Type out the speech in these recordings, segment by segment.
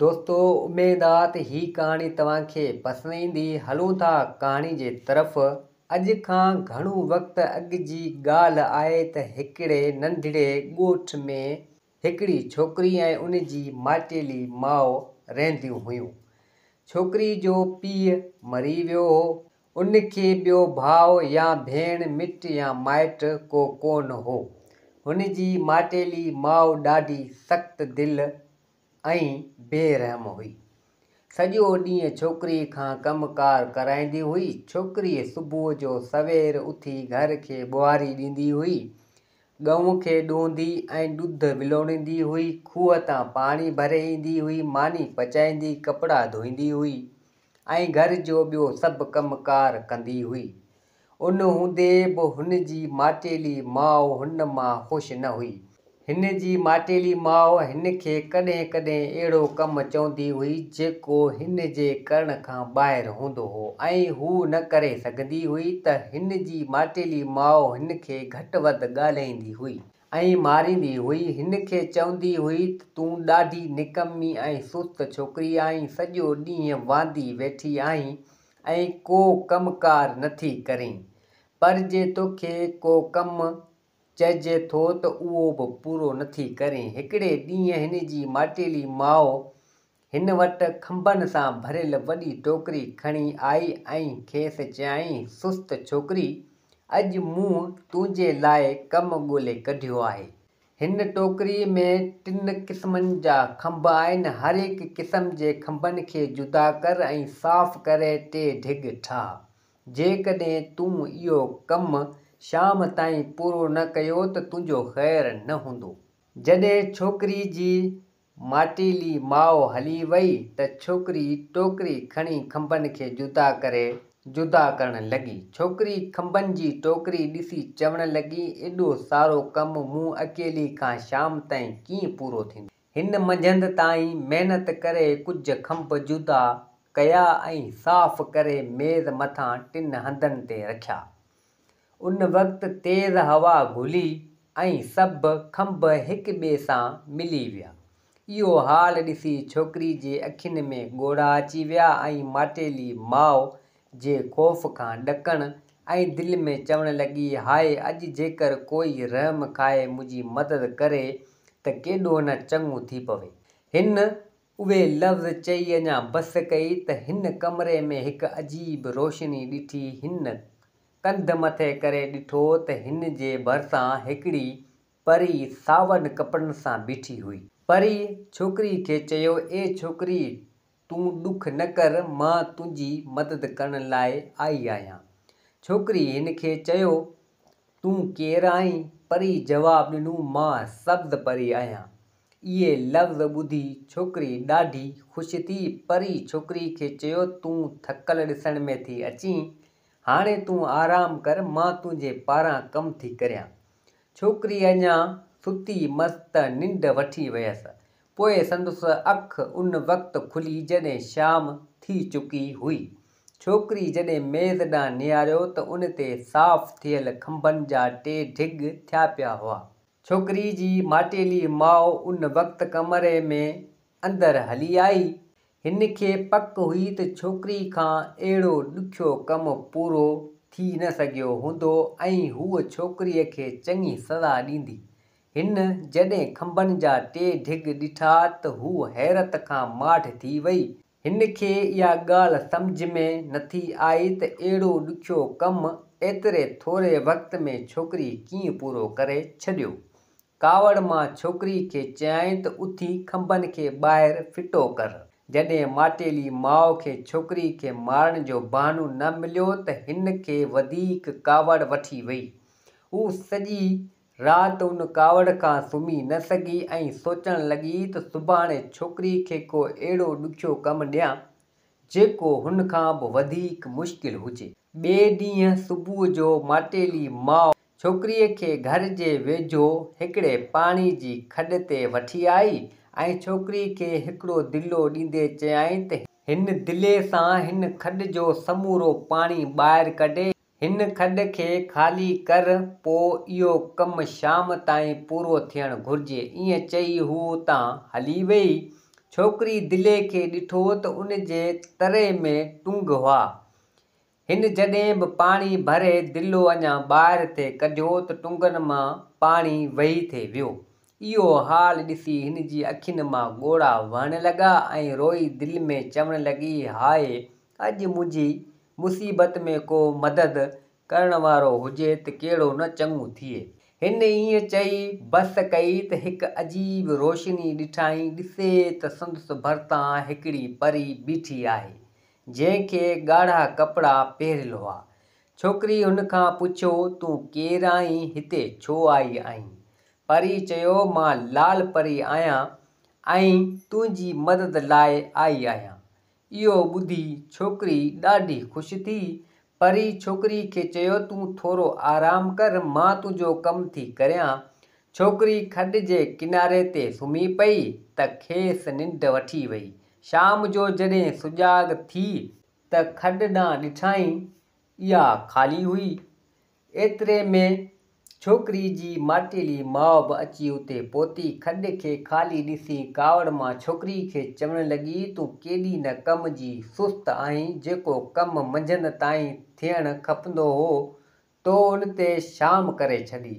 دوستو اميد آ ته هي ڪهاڻي توهان کي پسند ايندي هلون ٿا ڪهاڻي جي طرف اڄ کان گهڻو وقت اڳ جي ڳالهه آهي ته هڪڙي ننڍڙي ڳوٺ ۾ هڪڙي ڇوڪري ۽ ان جي ماٽيلي ماء رهنديون هيون ڇوڪري جو پيء مري ويو هو ان کي ٻيو ڀاء يا ڀيڻ مٽ يا مائٽ ڪو ڪونه هو هن جي ماٽيلي ماء ڏاڍي سخت دل ۽ بي رحم هئي. سڄو ڏينهن ڇوڪري کان ڪم ڪار ڪرائيندي هئي. ڇوڪري صبح جو سوير اٿي گهر کي ٻهاري ڏيندي هئي. ڳئون کي ڏوهندي ۽ ڏڌ ولوڙيندي هئي. کوهه تان پاڻي ڀري ايندي هئي. ماني پچائيندي، ڪپڙا ڌوئيندي هئي ۽ گهر جو ٻيو سڀ ڪم ڪار ڪندي هئي. ان هوندي به هن جي ماٽيلي ماء هن مان خوش نه هئي. هن جي ماٽيلي ماء هن کي ڪڏهن ڪڏهن اهڙو ڪم چوندي هئي جيڪو هن جي ڪرڻ کان ٻاهر هوندو هو ۽ هو نه ڪري سگهندي هئي ته هن جي ماٽيلي ماء هن کي گهٽ وڌ ڳالهائيندي هئي ۽ ماريندي هئي. هن کي چوندي هئي ته تون ڏاڍي نڪمي ۽ سست ڇوڪري آهين، سڄو ڏينهن واندي ويٺي آهين ۽ ڪو ڪم ڪار نٿي ڪرين، پر جي توکي ڪو ڪم چئجي ٿو ته اهو به پورو نٿي ڪرين. هڪڙي ڏينهن هن جي ماٽيلي ماء هن وٽ کنڀن سان ڀريل وڏي ٽوڪري کڻي آئي ۽ کيس چيائين، سست ڇوڪري! اڄ مون تنهنجي لاء ڪم ڳولي ڪڍيو آهي. هن ٽوڪري ۾ ٽن قسمن جا کنڀ آهن، هر هڪ قسم جي کنڀن کي جدا ڪر ۽ صاف ڪري ٽي ڍڳ ٺاهه. جيڪڏهن تون اهو ڪم شام تائين پورو نه ڪيو ته تنهنجو خير نه هوندو. جڏهن ڇوڪري جي ماٽيلي ماء هلي وئي ته ڇوڪري ٽوڪري کڻي کنڀن کي جدا ڪري جدا ڪرڻ لڳي. ڇوڪري کنڀن جي ٽوڪري ڏسي چوڻ لڳي، ايڏو سارو ڪم مون اڪيلي کان شام تائين ڪيئن پورو ٿيندو. هن منجهند تائين محنت ڪري ڪجهه کنڀ جدا ڪيا ۽ صاف ڪري ميز مٿان ٽن هنڌن تي رکيا. ان وقت تيز هوا گهلي ۽ سڀ کنڀ هڪ ٻئي سان ملي ويا. اهو حال ڏسي ڇوڪري جي اکين ۾ ڳوڙها اچي ويا ۽ ماٽيلي ماء جي خوف کان ڏڪڻ ۽ دل ۾ چوڻ لڳي هاء اڄ جيڪر ڪوئي رحم کائي منهنجي مدد ڪري ته ڪيڏو نه چڱو ٿي پوي. هن اهي لفظ چئي اڃا بس ڪئي ته هن ڪمري ۾ هڪ عجيب روشني ڏٺي. هن ڪنڌ مٿي ڪري ڏٺو ته هن جي ڀرسان هڪڙي پري ساون ڪپڙن سان بيٺي هئي. پري ڇوڪري کي چيو، اي ڇوڪري تون ڏک نه ڪر مان تنهنجي مدد ڪرڻ لاء آئي آهيان. ڇوڪري هن کي چيو، تون ڪير آهين؟ پري جواب ڏنو، مان سبز پري آهيان. اهي لفظ ٻڌي ڇوڪري ڏاڍي خوش ٿي. پري ڇوڪري کي چيو، تون ٿڪل ڏسڻ ۾ ٿي اچين، هاڻي تون آرام ڪر، مان تنهنجي پاران ڪم ٿي ڪريان. ڇوڪري اڃا ستي مس ته ننڊ وٺي ويس. پوء سندس اک ان وقت کلي جڏهن شام ٿي چڪي هئي. ڇوڪري جڏهن ميز ڏانهن نهاريو ته ان تي صاف ٿيل کنڀن جا ٽي ڍڳ ٿيا پيا هئا. ڇوڪري جي ماٽيلي ماء ان وقت ڪمري ۾ اندر هلي آئي. هن کي پڪ هئي ته ڇوڪري کان اهڙو ڏکيو ڪم پورو ٿي نه سگهيو هوندو ۽ هوء ڇوڪريء کي چڱي سزا ڏيندي. هن جڏهن کنڀن جا ٽي ڍڳ ڏٺا ته هوء حيرت کان ماٺ ٿي وئي هن کي اها ڳالهه سمجهه ۾ نٿي آئي ته اهڙو ڏکيو ڪم ايتري ٿوري وقت ۾ ڇوڪري ڪيئن پورو ڪري ڇڏيو. ڪاوڙ مان ڇوڪري کي چيائين ته اٿي کنڀن کي ٻاهر ڦٽو ڪر. جڏهن ماٽيلي ماء کي ڇوڪري کي مارڻ جو بهانو نه مليو ته هن کي وڌيڪ ڪاوڙ وٺي وئي. هو سڄي رات ان ڪاوڙ کان سمهي نه سگهي ۽ سوچڻ لڳي ته سڀاڻي ڇوڪري کي ڪو اهڙو ڏکيو ڪم ڏيان، جيڪو هن کان به وڌيڪ مشڪل هجي. ٻئي ڏينهن صبح جو ماٽيلي ماء ڇوڪريء کي گهر جي ويجهو هڪڙي پاڻي جي کڏ تي وٺي آئي ۽ ڇوڪري کي هڪڙو دلو ڏيندي چيائين ته، هن دلي سان هن کڏ جو سمورو پاڻي ٻاهر ڪڍي هن کڏ کي خالي ڪر، پوء اهو ڪم شام تائين پورو ٿيڻ گهرجي. ائين چئي هوء اتان هلي ويئي. ڇوڪري دلي کي ڏٺو ته ان جي تري ۾ ٽنگ هئا. هن جڏهن به پاڻي ڀري دلو اڃا ٻاهر ٿي ڪڍيو ته ٽنگن مان پاڻي وهي ٿي ويو. اهو حال ڏسي هن جي اکين مان ڳوڙها وهڻ لڳا ۽ روئي دل ۾ چوڻ لڳي، هاء اڄ منهنجي مصيبت ۾ ڪو مدد ڪرڻ وارو هجي ته ڪهڙو نه چڱو ٿئي. هن ائين چئي بس ڪئي ته هڪ عجيب روشني ڏٺائين، ڏسي ته سندس ڀرتان هڪڙي پري بيٺي آهي، جنهن کي ڳاڙها ڪپڙا پهريل هئا. ڇوڪري هن کان پڇيو، تون ڪير آهين، هتي ڇو آئي آهين؟ پريء چيو، مان لال پري آهيان ۽ تنهنجي مدد لاء آئي آهيان. اهو ٻڌي ڇوڪري ڏاڍي خوش ٿي. پري ڇوڪري کي چيو تون ٿورو آرام ڪر مان تنهنجو ڪم ٿي ڪريان. ڇوڪري کڏ جي ڪناري تي سمهي پئي ته کيس ننڊ وٺي وئي. شام جو جڏهن سجاڳ ٿي ته کڏ ڏانهن ڏٺائين اها خالي هئي. ايتري ۾ ڇوڪري جي ماٽيلي ماء به اچي اتي پهتي، کڏ کي خالي ڏسي ڪاوڙ مان ڇوڪري کي چوڻ لڳي، تون ڪيڏي نه ڪم جي سست آهين، جيڪو ڪم منجهند تائين ٿيڻ کپندو هو، تو ان تي شام ڪري ڇڏي.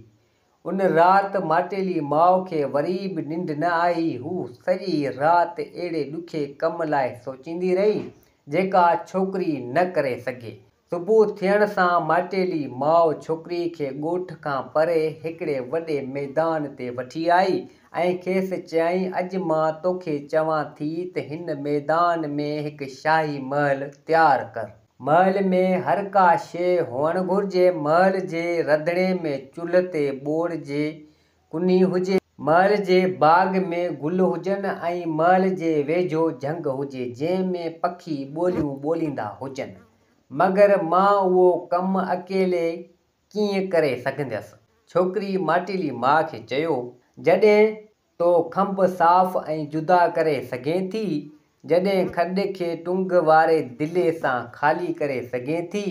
ان رات ماٽيلي ماء کي وري به ننڊ نه آئي، هو سڄي رات اهڙي ڏکي ڪم لاء سوچيندي رهي، جيڪا ڇوڪري نه ڪري سگهي. صبح ٿيڻ سان مائٽيلي ماء ڇوڪري کي ڳوٺ کان پري هڪڙي وڏي ميدان تي وٺي آئي ۽ کيس چيائين، اڄ مان توکي چوان ٿي ته هن ميدان ۾ هڪ شاهي محل تيار ڪر. محل ۾ هر ڪا شيء هئڻ گهرجي. محل جي رڌڻي ۾ چلهه تي ٻوڙ جي ڪني هجي. محل جي باغ ۾ گل هجن ۽ محل جي ويجهو جهنگ هجي جنهن ۾ پکي ٻوليون ٻوليندا هجن. مگر مان اهو ڪم اڪيلي ڪيئن ڪري سگهنديس. ڇوڪري ماٽيلي ماء کي چيو، جڏهن تو کنڀ صاف ۽ جدا ڪري سگهين ٿي، جڏهن کڏ کي ٽنگ واري دلي سان خالي ڪري سگهين ٿي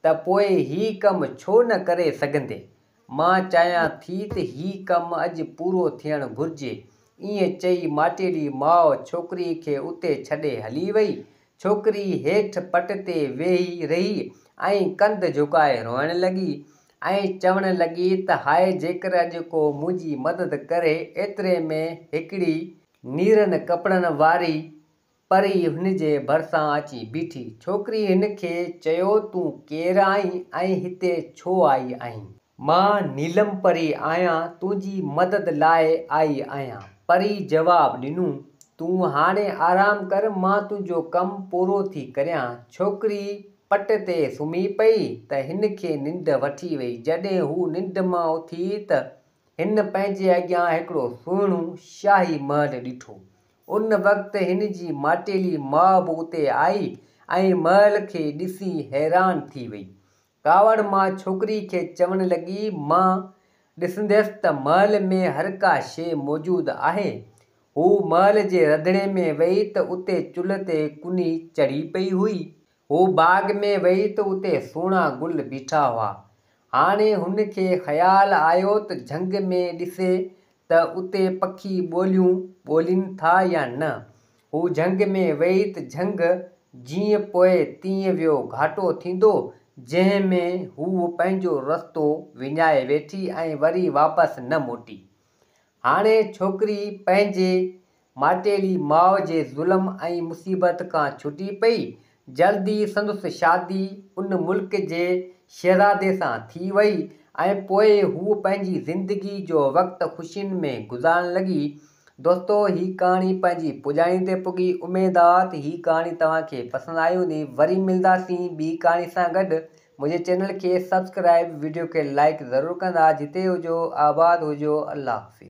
ته پوء هي ڪم ڇو نه ڪري سگهندي. مان چاهيان ٿي ته هي ڪم اڄ پورو ٿيڻ گهرجي. ائين چئي ماٽيلي ماء ڇوڪري کي اتي ڇڏي هلي وئي. ڇوڪري هيٺ پٽ تي ويهي رهي ۽ ڪنڌ جهڪائي روئڻ لڳي ۽ چوڻ لڳي ته هاء جيڪر اڄ ڪو منهنجي مدد ڪري ايتري ۾ هڪڙي نيرن ڪپڙن واري پري هن جي ڀرسان اچي بيٺي. ڇوڪري هن کي چيو تون ڪير آهين ۽ هتي ڇو آئي آهين؟ مان نيلم پري آهيان تنهنجي مدد لاء آئي آهيان. پري جواب ڏنو، تون هاڻي آرام ڪر مان تنهنجو ڪم پورو ٿي ڪريان. ڇوڪري پٽ تي سمهي پئي ته هن کي ننڊ وٺي وئي. جڏهن هو ننڊ مان اٿي ته هن پنهنجي اڳيان هڪڙو سهڻو شاهي محل ڏٺو. ان وقت هن جي ماٽيلي ماء به اتي آئي ۽ مئل کي ڏسي حيران ٿي وئي. ڪاوڙ ماء ڇوڪري کي چوڻ لڳي، مان ڏسنديس ته مئل ۾ هر ڪا شيء موجود آهي. هوء مئل جي رڌڻي ۾ وئي ته اتي چلهه تي ڪني چڙهي پئي هئي. هو باغ ۾ ويئي ته اتي سهڻا گل بيٺا هئا. هاڻي هن کي خيال آيو ته جهنگ ۾ ڏسي ته اتي پکي ٻوليون ٻولين ٿا يا نه. هو جهنگ ۾ ويئي ته جهنگ جيئن پوء تيئن ويو گهاٽو ٿيندو جنهن ۾ هوء پنهنجو رستو وڃائي ويٺي ۽ وري واپس نه موٽي. هاڻي ڇوڪري پنهنجي ماٽيلي ماء جي ظلم ۽ مصيبت کان ڇٽي پئي. جلد ئي سندس شادي ان ملڪ جي شهزادي سان ٿي وئي ۽ پوء هوء پنهنجي زندگي جو وقت خوشين ۾ گذارڻ لڳي. دوستو هي ڪهاڻي پنهنجي پڄاڻي تي پڳي. اميدآت هي ڪهاڻي توهان کي پسند آئي هوندي. وري ملنداسين ٻي ڪهاڻي سان گڏ. منهنجي چينل کي سبسڪرائب وڊيو کي لائڪ ضرور ڪندا جتي هجو آباد هجو الله حافظ.